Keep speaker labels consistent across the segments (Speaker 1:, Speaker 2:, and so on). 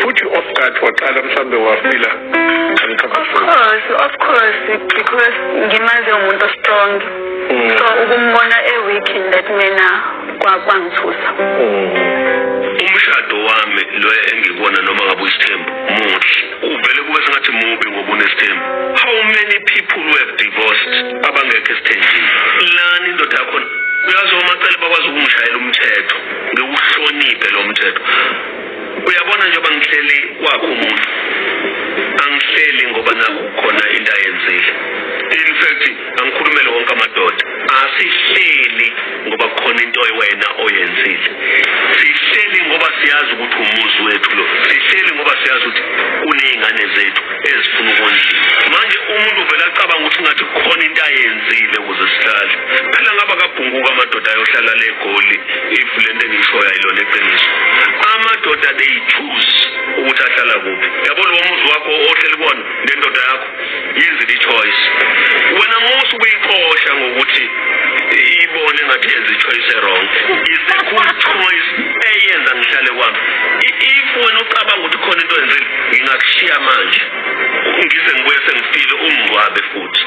Speaker 1: futhi oskati waqala mhlawumbe wafila
Speaker 2: course of course because ngimaze umuntu ostrong mm. so ukumbona e-weak in that manner kwangithusa mm.
Speaker 3: umshado wami lo engikona noma ngabe uyisithembu muhle uvele kube sengathi mubi ngoba unesithembu how many people who have divorced abangekho esithenjini lani indoda yakhona uyazi omacele bakwazi ukumshayela umthetho ngiwuhloniphe lo mthetho uyabona njengoba ngihleli kwakho umuntu angihleli ngoba nakukhona into ayenzile in fact angikhulumele wonke amadoda asihleli ngoba kukhona into wena oyenzile sihleli ngoba siyazi ukuthi umuzi wethu lo sihleli ngoba siyazi ukuthi kuney'ngane zethu ezifuna ukondliwa manje umuntu vele acabanga ukuthi ngathi kukhona into ayenzile uzohlala phela ngaba kabhunguka amadoda ayohlala le goli if le nto engishoyo ayilona eqiniso amadoda they choose ukuthi ahlala kuphi yabo lo muzi wakho ohleli kona nendoda yakho yenze i-choice wena musa ukuyixosha ngokuthi ibone engathi yenza i-choice erong is a cool choice eyenza ngihlale kwami if wena ucabanga ukuthi khona into enzile ngingakushiya manje ngize ngibuye sengifile ungcwabe futhi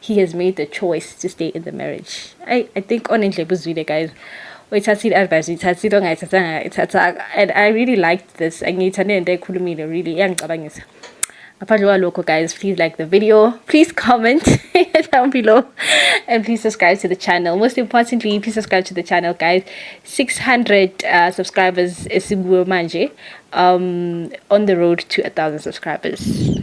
Speaker 4: he has made the choice to stay in the marriage i, I think onendlebe uzwile guys uyithathile advice uyithathile ongayithathanga ithathanga and i really liked this angiyithande into ekhulumile really iyangicabangisa ngaphandle kwalokho guys please like the video please comment down below and please subscribe to the channel most importantly please subscribe to the channel guys 600 uh, subscribers esikuwo manje um on the road to a thousand subscribers